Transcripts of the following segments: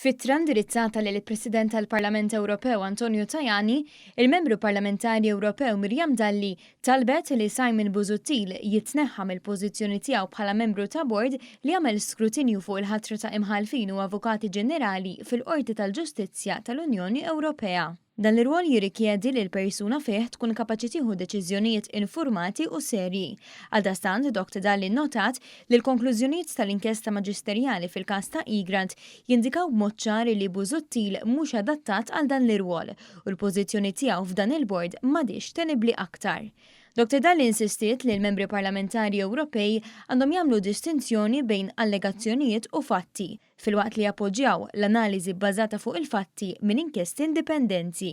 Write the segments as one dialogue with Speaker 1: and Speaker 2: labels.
Speaker 1: F'ittra indirizzata lil il-President tal-Parlament Ewropew Antonio Tajani, il-Membru Parlamentari Ewropew Miriam Dalli talbet li Simon Busuttil jitneħħa mill-pożizzjoni tiegħu bħala membru ta' bord li jagħmel skrutinju fuq il-ħatra ta' Imħallfin u Avukati Ġenerali fil-Qorti tal-Ġustizzja tal-Unjoni Ewropea. Dan l-irwol jirrikjedi li l-persuna fih tkun kapaċi tieħu deċiżjonijiet infurmati u serji. Għaldaqstant, Doct. Dalli nnotat li l-konklużjonijiet tal-inkjesta maġisterjali fil-każ ta' Egrant jindikaw b'mod ċar li Busuttil mhux adattat għal dan l-irwol u l-pożizzjoni tiegħu f'dan il-bord m'għadhiex tenibbli aktar. Doct. Dalli insistiet li l-Membri Parlamentari Ewropej għandhom jagħmlu distinzjoni bejn allegazzjonijiet u fatti, filwaqt li jappoġġjaw l-analiżi bbażata fuq il-fatti minn inkjesti indipendenti,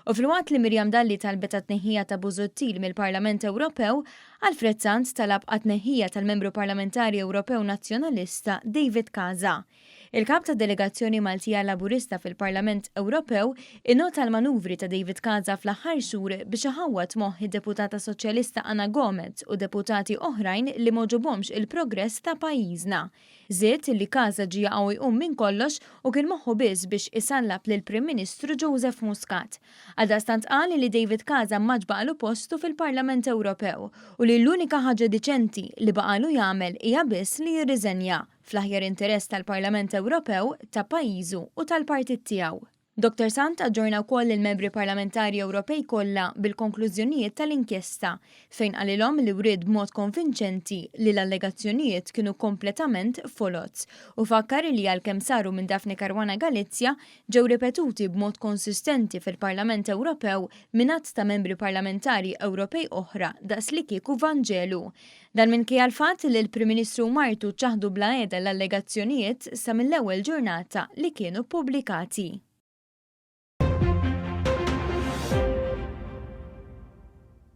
Speaker 1: u filwaqt li Miriam Dalli talbet għat-tneħħija ta' Busuttil mill-Parlament Ewropew, Alfred Sant talab għat-tneħħija tal-Membru Parlamentari Ewropew Nazzjonalista David Casa. Il-Kap tad-Delegazzjoni Maltija Laburista fil-Parlament Ewropew innota l-manuvri ta' David Casa fl-aħħar xhur biex iħawwad moħħ id-Deputata Soċjalista Ana Gomez u Deputati oħrajn li m'għoġobhomx il-progress ta' pajjiżna Żied li Casa ġie jaqaw jqum minn kollox u kien moħħu biss biex isallab lill-Prim Ministru Joseph Muscat. Għaldaqstant qal li David Casa m'għadx baqgħalu postu fil-Parlament Ewropew u li l-unika ħaġa diċenti li baqgħalu jagħmel hija biss li jirriżenja, fl-aħjar interess tal-Parlament Ewropew, ta' pajjiżu u tal-partit tiegħu. Doktor Sant aġġorna wkoll lill-Membri Parlamentari Ewropej kollha bil-konklużjonijiet tal-inkjesta, fejn qalilhom li wriet b'mod konvinċenti li l-allegazzjonijiet kienu kompletament foloz, u fakkar li għalkemm saru minn Daphne Caruana Galizia, ġew ripetuti b'mod konsistenti fil-Parlament Ewropew minn għadd ta' Membri Parlamentari Ewropej oħra daqslikieku vanġelu. Dan minkejja l-fatt li l-Prim Ministru u martu ċċaħdu bla għeda l-allegazzjonijiet sa mill-ewwel ġurnata li kienu ppubblikati.